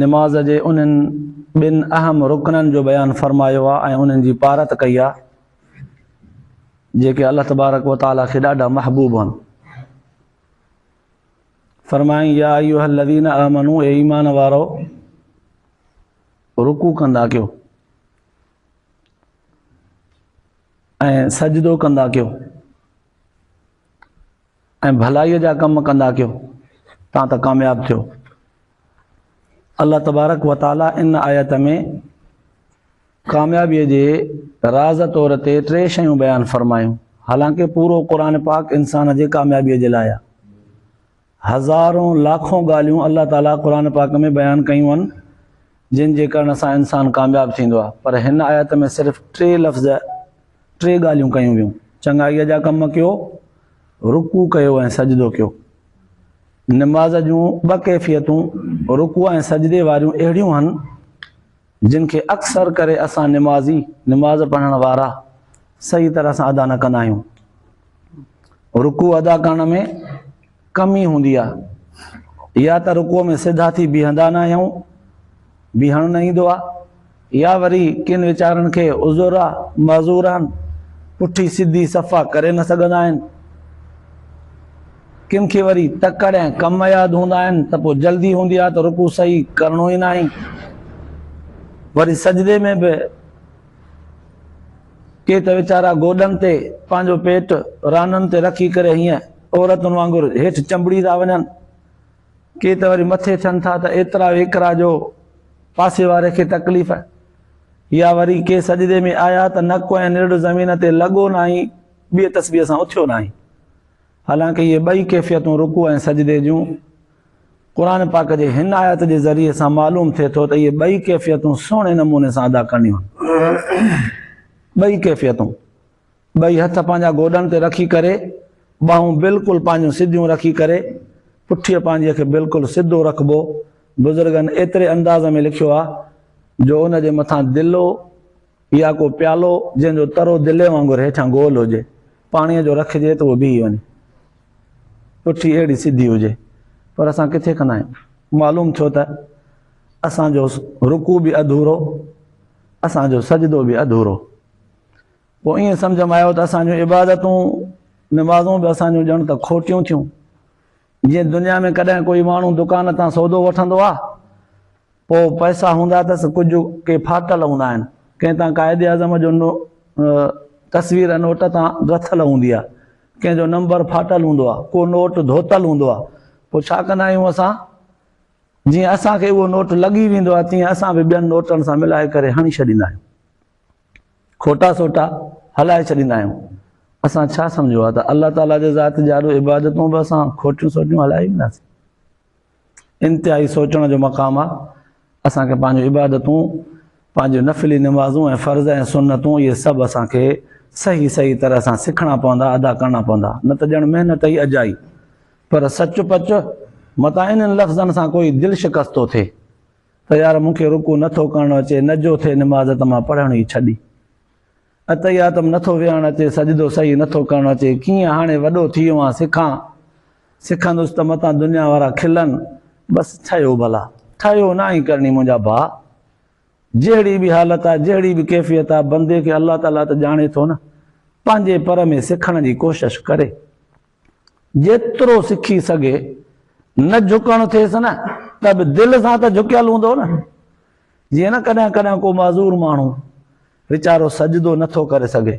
نماز جي انهن ٻن اهم رڪنن جو بيان فرمايو آهي ۽ انهن جي پارت ڪئي آهي جيڪي الله تبارڪ و تعالٰي کي ڏاڍا محبوب آهن فرمائين يا ايها الذين امنوا اي ایمان وارو رڪوع ڪندا ڪيو ۽ سجدو ڪندا ڪيو ۽ ڀلائيء جا ڪم ڪندا ڪيو تان ته ڪامياب ٿيو. الله تبارڪ و تعاليٰ ان آيت ۾ ڪاميابيء جي راز طور تي ٽي شيون بيان فرمايون. حالانڪه پورو قرآن پاڪ انسان جي ڪاميابيء جي لاء آهي. هزارون لاکون ڳالهيون الله تعاليٰ قرآن پاڪ ۾ بيان ڪيون آهن جن جي ڪرڻ سان انسان ڪامياب ٿيندو آهي پر هن آيت ۾ صرف ٽي لفظ ٽي ڳالهيون ڪيون ويون، چڱائيء جا ڪم ڪيو، رڪوع ڪيو ۽ سجدو ڪيو. نماز جون ٻه ڪيفيتون رڪوع ۽ سجدي واريون اهڙيون هن، جن کي اڪثر ڪري اسان نمازي، نماز پڙهڻ وارا، صحيح طرح سان ادا نه ڪندا آهيون. رڪوع ادا ڪرڻ ۾. ڪمي هوندي آهي يا ته رڪوع ۾ سڌا ٿي بيهندا نه آهيون بيهڻ نه ايندو آهي يا وري ڪن ويچارن کي عذر آهي معذور آهن پٺي سڌي صفا ڪري نه سگهندا آهن ڪن کي وري تڪڙ ۽ ڪم ياد هوندا آهن ته پوء جلدي هوندي آهي ته رڪو صحيح ڪرڻو ئي ناهي وري سجدي ۾ به ڪي ته ويچارا گوڏن تي پنهنجو پيٽ رانن تي رکي ڪري هيئن عورتن وانگر هيٺ چنبڙي ٿا وڃن، ڪي ته وري مٿي ٿين ٿا ته ايترا ويڪرا جو پاسي واري کي تڪليف، يا وري ڪي سجدي ۾ آيا ته نڪ ۽ نرڙ زمين تي لڳو ناهي، ٻيء تسبيح سان اٿيو ناهي. حالانڪ اهي ٻئي ڪيفيتون رڪوع ۽ سجدي جون قرآن پاڪ جي هن آيت جي ذريعي سان معلوم ٿئي ٿو ته اهي ٻئي ڪيفيتون سهڻي نموني سان ادا ڪرڻيون آهن. ٻئي ڪيفيتون ٻئي هٿ پنهنجا گوڏن تي رکي ڪري، ٻانهون بلڪل پنهنجون سڌيون رکي ڪري، پٺيء پنهنجيء کي بلڪل سڌو رکبو، بزرگن ايتري انداز ۾ لکيو آ جو ان جي مٿان دلو يا ڪو پيالو جنهن جو ترو دلي وانگر هيٺان گول هجي، پاڻيء جو رکجي ته اهو بيهي وڃي. پٺي اهڙي سڌي هجي. پر اسان ڪٿي ڪندا آهيون. معلوم ٿيو ته اسان جو رڪوع به اڌورو، اسان جو سجدو به اڌورو. پوء ائين سمجهه ۾ آيو ته اسان جون عبادتون، نمازون به اسان جون ڄڻ ته کوٽيون ٿيون. جيئن دنيا ۾ ڪڏهن ڪوئي ماڻهو دڪان تان سودو وٺندو آ، پوء پئسا هوندا اٿس، ڪجهه ڪي ڦاٽل هوندا آهن، ڪنهن تان قائد اعظم جو تصوير نوٽ تان رٿل هوندي آ، ڪنهن جو نمبر ڦاٽل هوندو آ، ڪو نوٽ ڌوتل هوندو آ، پوء ڇا ڪندا آهيون اسان؟ جيئن اسان کي اهو نوٽ لڳي ويندو آ، تيئن اسان به ٻين نوٽن سان ملائي ڪري هڻي ڇڏيندا آهيون. کوٽا سوٽا هلائي ڇڏيندا آهيون. اسان ڇا سمجهيو آهي ته الله تعاليٰ جي ذات جا اهي عبادتون به اسان کوٽيون سوٽيون هلائي وينداسين؟ انتهائي سوچڻ جو مقام آهي. اسان کي پنهنجون عبادتون، پنهنجون نفلي نمازون ۽ فرض ۽ سنتون اهي سڀ اسان کي صحيح صحيح طرح سان سکڻا پوندا، ادا ڪرڻا پوندا. نه ته ڄڻ محنت ئي اجائي. پر سچ پچ متان انهن لفظن سان ڪوئي دل شڪستو ٿئي. ته يار مون کي رڪوع نه ٿو ڪرڻ اچي نه جو ٿئي نماز ته مان پڙهڻ ئي ڇڏي اتحياتم نه ٿو ويهڻ اچي سجدو صحيح نه ٿو ڪرڻ اچي ڪيئن هاڻي وڏو ٿي ويو آهيان سکان سکندس ته متان دنيا وارا کلن بس ٺهيو ڀلا ٺهيو ناهي ڪرڻي منهنجا ڀاء جهڙي به حالت آهي جهڙي به ڪيفيت آهي بندي کي الله تعاليٰ ته ڄاڻي ٿو نه پنهنجي پر ۾ سکڻ جي ڪوشش ڪري جيترو سکي سگهي نه جهڪڻ ٿيس نه ته به دل سان ته جهڪيل هوندو نه جيئن نه ڪڏهن ڪڏهن ڪو معذور ماڻهو ويچارو سجدو نٿو ڪري سگهي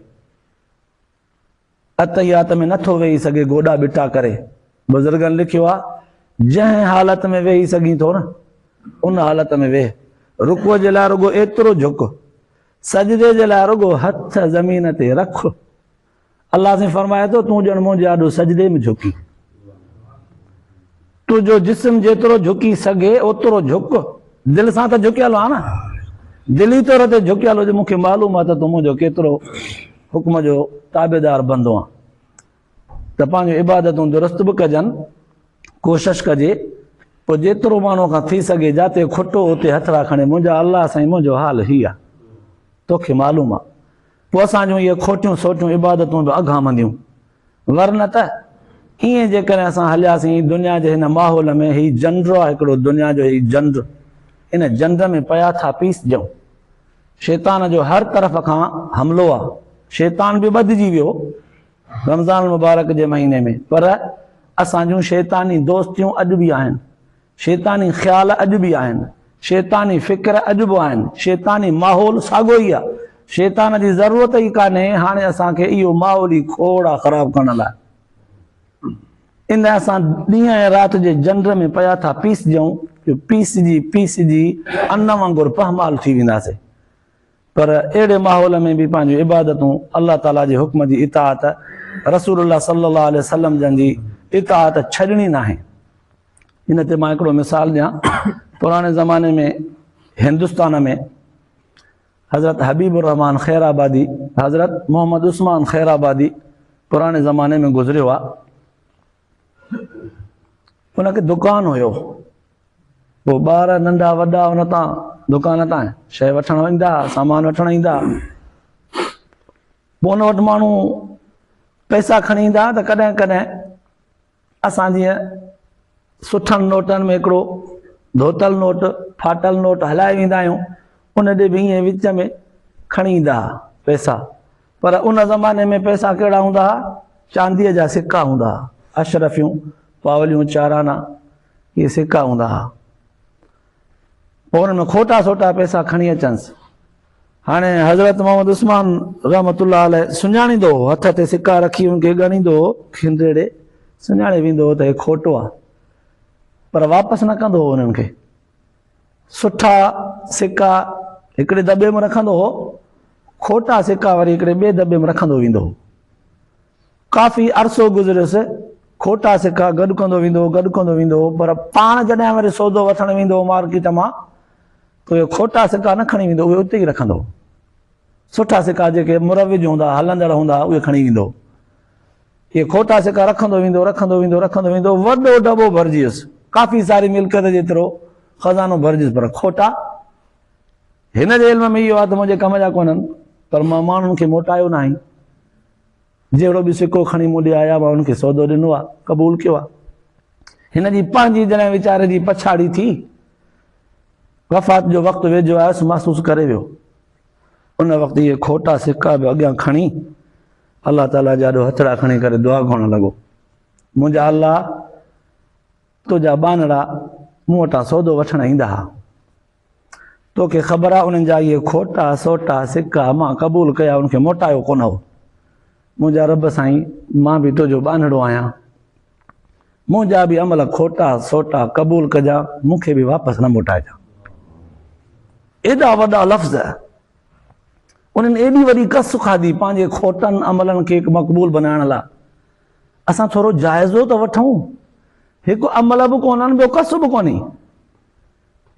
اتحيات ۾ نٿو ويهي سگهي گوڏا ٻٽا ڪري بزرگن لکيو آ جنهن حالت ۾ ويهي سگهين ٿو نه ان حالت ۾ ويهه رڪو جي لاء رڳو ايترو جهڪ سجدي جي لاء رڳو هٿ زمين تي رک الله سائين فرمائي ٿو تون ڄڻ منهنجي آڏو سجدي ۾ جهڪين. تنهنجو جسم جيترو جهڪي سگهي اوترو جهڪ. دل سان ته جهڪيل آهي نه. دلي طور تي جهڪيل هجي مون کي معلوم آهي ته تون منهنجو ڪيترو حڪم جو تابعدار بندو آهين. ته پنهنجون عبادتون درست به ڪجن. ڪوشش ڪجي پوء جيترو ماڻهو کان ٿي سگهي جاتي کٽو اتي هٿڙا کڻي منهنجا الله سائين منهنجو حال هي آهي. توکي معلوم آهي. پوء اسان جون اهي کوٽيون سوٽيون عبادتون به اگهامنديون. ورنه ته ائين جيڪڏهن اسان هلياسين دنيا جي هن ماحول ۾ هي جنڊو آهي هڪڙو دنيا جو هي جنڊ ان جنڊ ۾ پيا ٿا پيسجون. شيطان جو هر طرف کان حملو آهي. شيطان به ٻڌجي ويو رمضان المبارڪ جي مهيني ۾ پر اسان جون شيطاني دوستيون اڄ به آهن. شيطاني خيال اڄ به آهن، شيطاني فڪر اڄ به آهن، شيطاني ماحول ساڳو ئي آ. شيطان جي ضرورت ئي ڪانهي هاڻي اسان کي اهو ماحول ئي کوڙ آ خراب ڪرڻ لاء. ان لاء اسان ڏينهن ۽ رات جي جنڊ ۾ پيا ٿا پيسجون جو پيسجي پيسجي ان وانگر پهمال ٿي وينداسين. پر اهڙي ماحول ۾ به پنهنجون عبادتون، الله تعاليٰ جي حڪم جي اطاعت، رسول الله صلي الله عليه وسلم جن جي اطاعت ڇڏڻي ناهي. ان تي مان هڪڙو مثال ڏيان پراڻي زماني ۾ هندستان ۾ حضرت حبيب الرحمان خير آبادي حضرت محمد عثمان خير آبادي پراڻي زماني ۾ گذريو آ ان کي دڪان هيو پو ٻار ننڍا وڏا ان تان دڪان تان شي وٺڻ ويندا سامان وٺڻ ايندا پو ان وٽ ماڻهو پئسا کڻي ايندا ته ڪڏهن ڪڏهن اسان جيئن سٺن نوٽن ۾ هڪڙو ڌوتل نوٽ، ڦاٽل نوٽ هلائي ويندا آهيون، ان ڏي به ائين وچ ۾ کڻي ايندا ها پئسا، پر ان زماني ۾ پئسا ڪهڙا هوندا ها، چانديء جا سڪا هوندا ها، اشرفيون، پاوليون، چارانا، اهي سڪا هوندا ها. پوء ان ۾ کوٽا سوٽا پئسا کڻي اچنس، هاڻي حضرت محمد عثمان رحمة الله عليه سڃاڻيندو هو، هٿ تي سڪا رکي ان کي ڳڻيندو هو، کين ريڙهي سڃاڻي ويندو هو ته هي کوٽو آ، پر واپس نه ڪندو هو انهن کي. سٺا سڪا هڪڙي دٻي ۾ رکندو هو، کوٽا سڪا وري هڪڙي ٻئي دٻي ۾ رکندو ويندو هو. ڪافي عرصو گذريس، کوٽا سڪا گڏ ڪندو ويندو هو، گڏ ڪندو ويندو هو، پر پاڻ جڏهن وري سودو وٺڻ ويندو هو مارڪيٽ مان اهي کوٽا سڪا نه کڻي ويندو، اهي اتي ئي رکندو. سٺا سڪا جيڪي مروج هوندا، هلندڙ هوندا، اهي کڻي ويندو. اهي کوٽا سڪا رکندو ويندو، رکندو ويندو، رکندو ويندو، وڏو ڊٻو ڀرجيس، ڪافي ساري ملڪيت جيترو خزانو ڀرجيس، پر کوٽا؟ هن جي علم ۾ اهو آ ته منهنجي ڪم جا ڪونهن، پر مان ماڻهن کي موٽايو ناهي. جهڙو به سڪو کڻي مون ڏي آيا مان هن کي سودو ڏنو آ قبول ڪيو آ هن جي پنهنجي جڏهن ويچاري جي پڇاڙي ٿي وفات جو وقت ويجهو آيس محسوس ڪري ويو ان وقت اهي کوٽا سڪا به اڳيان کڻي الله تعالي جا ڏو هٿڙا کڻي ڪري دعا گهڻ لڳو منهنجا الله تنهنجا ٻانهڙا مون وٽان سودو وٺڻ ايندا ها توکي خبر آ انهن جا اهي کوٽا سوٽا سڪا مان قبول ڪيا ان کي موٽايو ڪونه هو منهنجا رب سائين مان به تنهنجو ٻانهڙو آهيان منهنجا به عمل کوٽا سوٽا قبول ڪجا مون کي به واپس نه موٽائجا ايڏا وڏا لفظ انهن ايڏي وڏي کس کاڌي پنهنجي کوٽن عملن کي مقبول بنائڻ لاء اسان ٿورو جائزو ته وٺون هڪ عمل به ڪونهن ٻيو کس به ڪونهي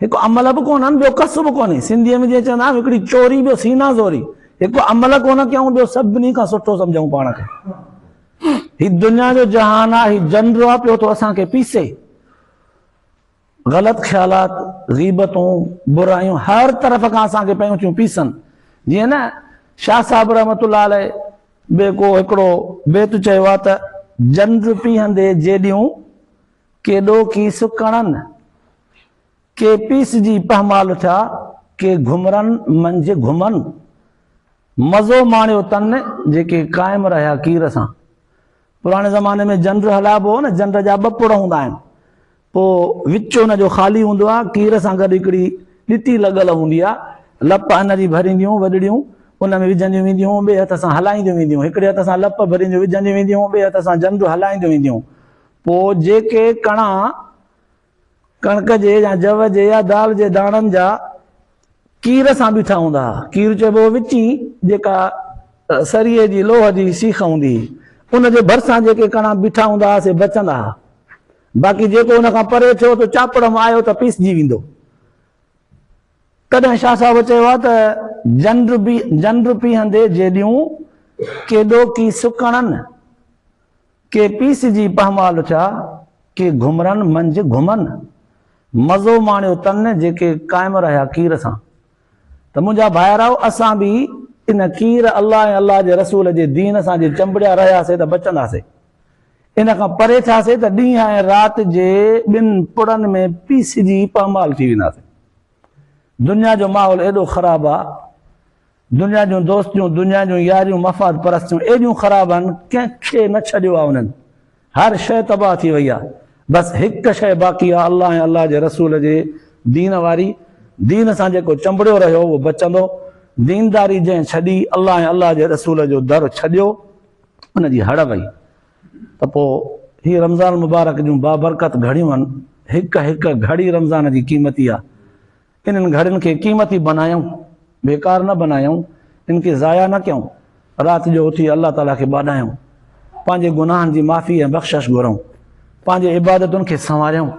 هڪ عمل به ڪونه ۽ ٻيو ڪس به ڪونهي. سنڌيء ۾ جيئن چوندا آهن هڪڙي چوري ٻيو سينا زوري. هڪ عمل ڪونه ڪيائون ٻيو سڀني کان سٺو سمجهون پاڻ کي. هي دنيا جو جهان آ هي جنڊو آ پيو ٿو اسان کي پيسي. غلط خيالات، غيبتون، برايون هر طرف کان اسان کي پيون ٿيون پيسن. جيئن نه شاهه صاحب رحمة الله عليه به ڪو هڪڙو بيت چيو آ ته، جنڊ پيهندي جيڏيون، ڪيڏو ڪي سڪڻن، ڪي پيسجي پهمال ٿيا، ڪي گهمرن منجهه گهمن. مزو ماڻيو تن، جيڪي قائم رهيا ڪير سان. پراڻي زماني ۾ جنڊ هلائبو هو نه، جنڊ جا ٻه پڙ هوندا آهن، پوء وچ ان جو خالي هوندو آهي، ڪير سان گڏ هڪڙي ڏٽي لڳل هوندي آهي، لپ ان جي ڀرينديون وڏڙيون ان ۾ وجهنديون وينديون هون، ٻئي هٿ سان هلائينديون وينديون، هڪڙي هٿ سان لپ ڀرينديون وجهنديون وينديون هون، ٻئي هٿ سان جنڊ هلائينديون وينديون هون. پوء جيڪي ڪڻا، ڪڻڪ جي يا جوء جي يا دال جي داڻن جا، ڪير سان بيٺا هوندا ها. ڪير چئبو هو وچين، جيڪا سريء جي لوهه جي سيخ هوندي هئي. ان جي ڀرسان جيڪي ڪڻا بيٺا هوندا ها، سي بچندا ها. باقي جيڪو ان کان پري ٿيو ته چاپڙ م آيو ته پيسجي ويندو. تڏهن شاهه صاحب چيو ها ته، جنڊ جنڊ پيهندي جيڏيون، ڪيڏو ڪي سڪڻن. ڪي پي سي جي پهمال اٿيا، ڪي گهمرن منجهه گهمن، مزو ماڻيو تن جيڪي قائم رهيا ڪير سان. ته منهنجا ڀائراؤ اسان به ان ڪير الله ۽ الله جي رسول جي دين سان جي چنبڙيا رهياسي ته بچنداسي، ان کان پري ٿياسي ته ڏينهن ۽ رات جي ٻن پڙن ۾ پيسجي پهمال ٿي وينداسي. دنيا جو ماحول ايڏو خراب آ دنيا جون دوستيون دنيا جون ياريون مفاد پرستيون ايڏيون خراب آھن ڪنھن کي نه ڇڏيو آ انھن ھر شيء تباھ ٿي وئي آ بس ھڪ شيء باقي آ الله ۽ الله جي رسول جي دين واري دين سان جيڪو چنبڙيو رھيو اھو بچندو دينداري جنھن ڇڏي الله ۽ الله جي رسول جو در ڇڏيو ان جي ھڙ وئي. ته پوء هي رمضان المبارڪ جون بابرڪت گهڙيون هڪ هڪ گهڙي رمضان جي قيمتي آ انهن گهڙين کي قيمتي بنايون بيڪار نه بنايون ان کي ضايع نه ڪيون رات جو اٿي الله تعالي کي ٻاڏايون پنهنجي گناهن جي معافي ۽ بخشش گهرون پنهنجي عبادتن کي سنواريون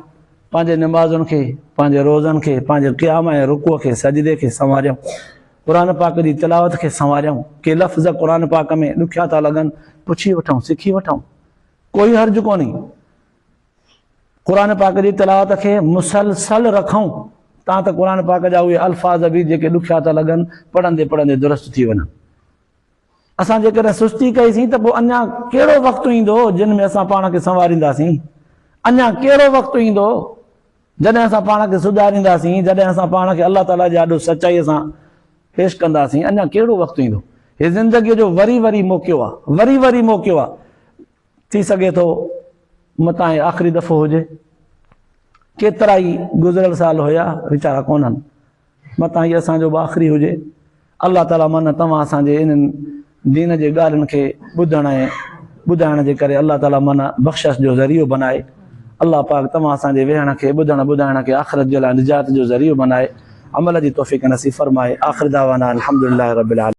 پنهنجي نمازن کي پنهنجي روزن کي پنهنجي قيام ۽ رڪوع کي سجدي کي سنواريون قرآن پاڪ جي تلاوت کي سنواريائون. ڪي لفظ قرآن پاڪ ۾ ڏکيا ٿا لڳن، پڇي وٺون، سکي وٺون. ڪوئي حرج ڪونهي. قرآن پاڪ جي تلاوت کي مسلسل رکون تان ته قرآن پاڪ جا اهي الفاظ به جيڪي ڏکيا ٿا لڳن، پڙهندي پڙهندي درست ٿي وڃن. اسان جيڪڏهن سستي ڪئيسين ته پوء اڃا ڪهڙو وقت ايندو جنهن ۾ اسان پاڻ کي سنوارينداسين؟ اڃا ڪهڙو وقت ايندو جڏهن اسان پاڻ کي سڌارينداسين، جڏهن اسان پاڻ کي الله تعاليٰ جي آڏو سچائيء سان پيش ڪنداسين؟ اڃا ڪهڙو وقت ايندو؟ هي زندگيء جو وري وري موقعو آهي، وري وري موقعو آهي. ٿي سگهي ٿو متان هي آخري دفعو هجي. ڪيترائي گذريل سال هيا، ويچارا ڪونهن. متان هي اسان جو به آخري هجي. الله تعالي من توهان اسان جي انهن دين جي ڳالهين کي ٻڌڻ ۽ ٻڌائڻ جي ڪري الله تعالي من بخشش جو ذريعو بنائي. الله پاڪ توهان اسان جي ويهڻ کي ٻڌڻ ٻڌائڻ کي آخرت جي لاء نجات جو ذريعو بنائي عمل جي توفيق نصيب فرمائي آخر دعوانا الحمدلله رب العالمين.